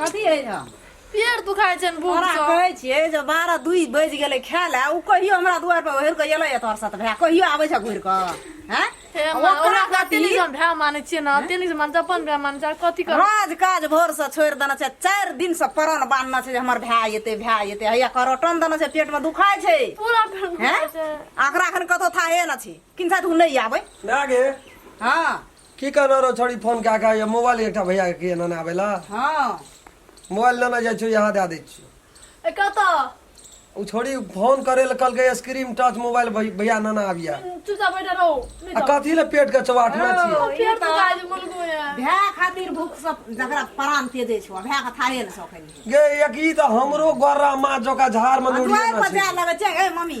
कथी है हम पेड़ दुखाइ छनि बूढ़ तोरा सब कहै छियै जे बारह दुई बजि गेलै खाय लए ओ कहियो हमरा दुआर पर ओढ़ि कऽ एलै तोहर साथ भाय कहियो आबै छै घुरि कऽ हैं हे आ माँ, ओकरा ओकरा कथी? कते नहि हम भाय मानै छियै ने तेनी से मान्छ अपन भाय मान्छ कथी कर राज काज भोर से छोड़ि देने छै चारि दिन से परण बांधने छै जे हमर भाय एतै भाय एतै हैया करोटन देने छै पेट मे दुखाय छै पूरा पेड़ हैं दुखाइ छै एकरा अखन कतौ थाहे न छै किन साथ उ नहि आबै ना गे हँ की कहना रहो छोड़ी फोन कए कऽ या मोबाइल एकटा भैया के एना ने आबेला हँ मोबाइल लेना जाइ छियो यहाँ दए दै छियो ए कतऽ ओ छोड़ी फोन करे लए कहलकै स्क्रीन टच मोबाइल भै- भैया नाना आबिया चुपचाप बैठा रहो नहीं आ तो कथी लए पेट के चौबाठना छियै ओ, फेर तो आज बोल गए हैं भए खातिर भूख सब जकरा प्राण तेजे छौ भए के थाहे ने सकैली गे एक ई तऽ हमरो गोरा माँ जका झाड़ में आ नूरिये दुआरि ना पर छै जाए लगै छै ए मम्मी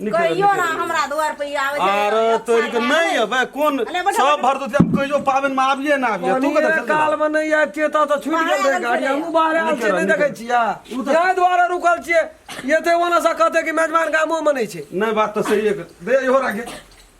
निकल कहियो ना निकल। हमरा द्वार पे आवे अरे तोरी के नहीं अबे कौन अरे बैठो, सब भर तो हम कहियो पावन में आबिए ना आबिए तू के पानिये काल में नहीं आए छियै तऽ तऽ छुटि गेल रहै गाड़ी हमहूँ बाहर आयल छियै नहि देखै छियै इएह दुआरे रुकल छियै एते ओना से कहतै कि मेजबान गामोमे नहि छै नहीं बात तो सही है दे इहो राखे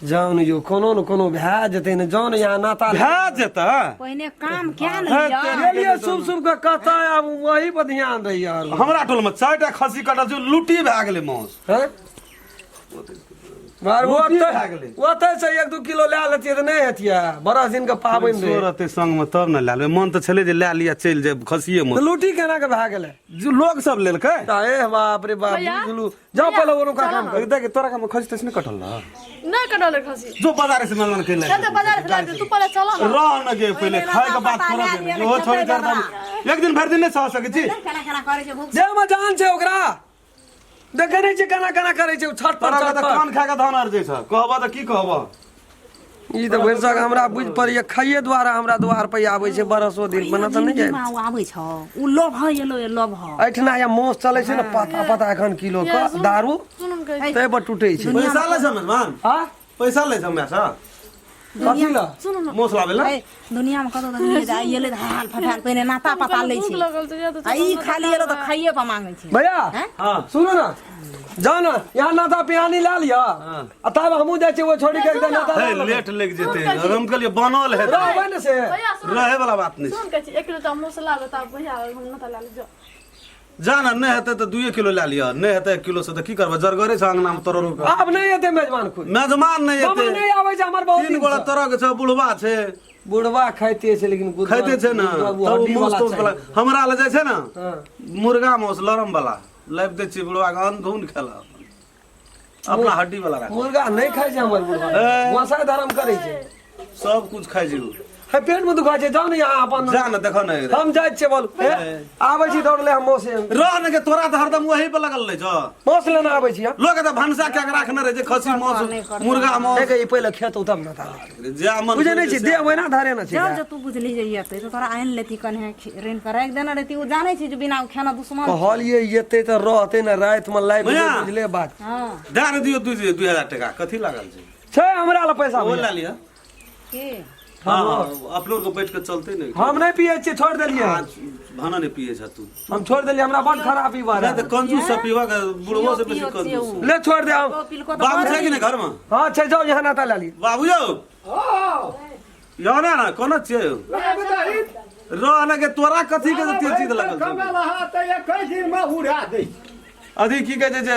जान यो कोनो न कोनो भए जेतै ने जान यहाँ नाता भए जेतै पहिने काम क्या ने गेलिए सुब सुब के कथा आब वही पर ध्यान दै यार हमरा टोल में चारिटा खसी कटल छै लुटी भए गेलै मौस हैं बार वो लुटी भए गेलै ओतै से एक दू किलो लए लेतियै तऽ नहि हेतियै बड़ा दिन के पाबनि रहै चोर रहतै संग में तब ने लए लेबै मन तऽ छलै जे लए लिअ चलि जायब खसिए तऽ मौस लूटी केना के भए गेलै जे लोग सब लेलकै तऽ ए बाप रे बाप भैया? बुझलू जा पहिले ओरो का काम कर देख तोरा का खसी तसने कटल ना ना कटल खसी जो बाजार से मनमन के ले चल बाजार से लाके तू पहिले चल ना रह न गे पहिले खाए के बात करो दे जो छोड़ कर दम एक दिन भर दिन नहीं सह सके छी खाना खाना करे छै भूख जे हम जान छै ओकरा देखे नहीं छै कना कना करे छै छठ पर छठ पर कौन खा के धान आर जे छ कहबा त की कहबा ई तऽ भरिसक हमरा बुझ पड़ैया खाइये द्वारा हमरा द्वार पर आबै छै बरसो दिन बना तऽ नहि जिनगीमे ओ आबै छौ ओ लोभ है एलो ए लोभ है एहिठिना या मास चलै छै ने पता पता एखन किलो के दारू ताहि पर टूटै छै पैसा लै छै मेहमान आ पैसा लै छै हमरा से कथी लए सुन न मोस लाबै लए दुनियामे कतहु तक नहि जाइ एलै तऽ हाल फटाल पहिने नाता पता लै छै आ ई खाली एलो तऽ खाइए पर मांगै छै भैया हैं? हाँ सुनो ना जाओ ना यहाँ नाता पिहानी ला लिया आ तब हमहूँ जाइ छियै वो छोड़ी के एकदम नाता हे, ला लेबै। लेट लागि जेतै और हम कहलियै बनल हेतै रहबै ने से भैया सुन रहै वाला बात नहि छै सुन के एक किलो टा मसला बता भैया हम ना ला ले जाओ जा ना नहीं हेतै तऽ दुए किलो लए लिअ नहि हेतै एक किलो से तऽ की करबै जरगरे छ अङ्गनामे तोरो रुक आब नहि एतै मेजबान खुद मेजमान नहि मामा हेतै नहि आबै छै हमर बहुत तीन दिन गोला से। तरह के छै बुढ़वा छै बुढ़वा खाइते छै लेकिन बुढ़वा- खाइते छै ने बुढ़वा तब हड्डी मौस वाला तौस चाही। बला हमरा लए जाइ छै ने हँ। मुर्गा मौस लरम बला लाबि दै छियै बुढ़वा के अन्न धुन खेला अपना हड्डी वाला राख मुर्गा नहीं खाए छै हमर बुढ़वा ए। वसा धर्म करे छै सब कुछ खाइ छै उ। है पेट में दुखा छै जाओ ने यहाँ अपन जा न देखो न हम जाए छियै बोल ए, आबै छी दौड़ ले हम मौसे रह न के तोरा तऽ हरदम वही पर लगल रहै छौ मौस लेना आबै छी हम लोग तऽ भनसा कए के राखने रहै छै खस्सी मांस मुर्गा मांस देखे ई पहिले खेत उतम ना था जे मन बुझे नहि छै देह ओहिना धरे ने छै जाओ जो तू बुझली जे येते तो तोरा आनि लेती कन्हे खि- रेन के राखि देने रहती ओ जानै छै जे बिना ओ खाना दुश्मन कहलिए एते तऽ रहते ने राति में लाइव बुझा। बुझले बात हँ दए ने दियौ दू दू हजार टाका कथी लागल छै छै हमरा लग पैसा ओ भैया। लए लिअ के हाँ हाँ अपनो के बैठ के चलते ने हम नहि पिए छियै छोड़ देलिए आ भाना नहि पिए छ तू हम छोड़ देलिए हमरा बड़ खराबी बा नहीं तो कंजूस से पीवा के बुढ़वा से बेसी कंजूस ले छोड़ दे हम बाबू छै कि नहीं घर में हां छै जाओ यहाँ नाता ले ली बाबू यो यो ना ना कोना छै रह ना के तोरा कथी के तेज चीज लगल छै अधिक की कहे छै जे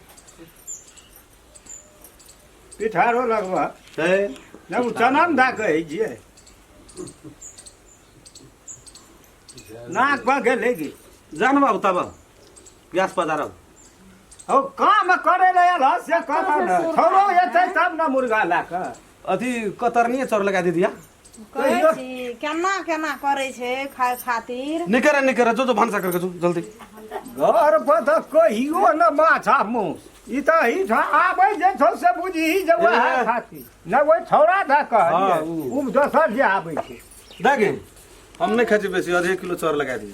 पिठारो लगबऽ छै नहि ओ चना ने दए कहै छियै नाक पर गेलै कि जान बाबू तब गैस पधारब हौ काम करे लए आयल हँ, से कहबऽ ने छौड़ो एतै तब ने मुर्गा लए कऽ अथी कतरनिए चोर लगा दीदी कहै छी केना केना करै छै खाय खातिर निकरे निकरे जो जो भनसा करके जो जल्दी घर पर तऽ कहियो न माछा मूस ई तऽ एहिठाम आबै जे छौ से बुझही जे वएह ए। खातिर न ओहि छौड़ा दऽ हँ, कहलियै उ। ओ दोसर जे आबै छै देखी हम नहीं खाई छी बेसी आधे किलो चोर लगा दिए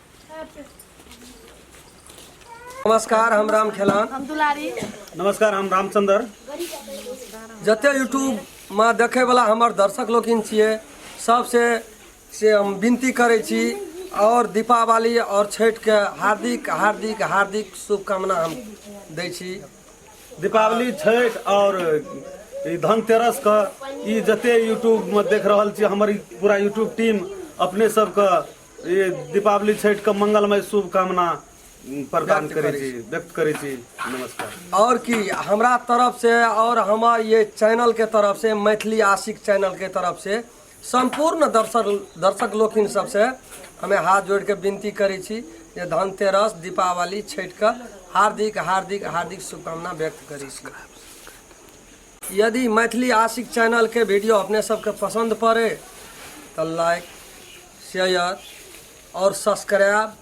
नमस्कार हम राम खेलान हम दुलारी नमस्कार हम रामचंद्र जते यूट्यूब में देखे वाला हमर दर्शक लोकिन छिए सबसे से हम विनती करे छी और दीपावली और छठ के हार्दिक हार्दिक हार्दिक शुभकामना हम दै छी दीपावली छठ और ई धनतेरस के ई जते यूट्यूब में देख रहल छी हमर ई पूरा यूट्यूब टीम अपने सबके ई दीपावली छठि के मंगलमय शुभकामना प्रदान करै छी व्यक्त करै छी नमस्कार आओर की हमरा तरफ से आओर हमर ये चैनल के तरफ से मैथिली आशिक चैनल के तरफ से सम्पूर्ण दर्शक दर्शक लोकिन सबसे हमे हाथ जोड़ के विनती करै छी जे धनतेरस दीपावली छठि के हार्दिक हार्दिक हार्दिक शुभकामना व्यक्त करै छी यदि मैथिली आशिक चैनलके वीडियो अपने सबके पसन्द पड़े तऽ लाइक शेयर आओर सब्सक्राइब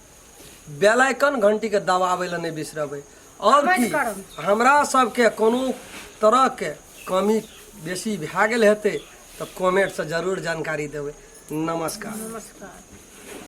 बेल आइकन घंटीके दबाबै लए नहि बिसरबै आओर की हमरा सबके कोनो तरहके कमी बेसी भए गेल हेतै तऽ कमेंटसँ जरूर जानकारी देबै नमस्कार नमस्कार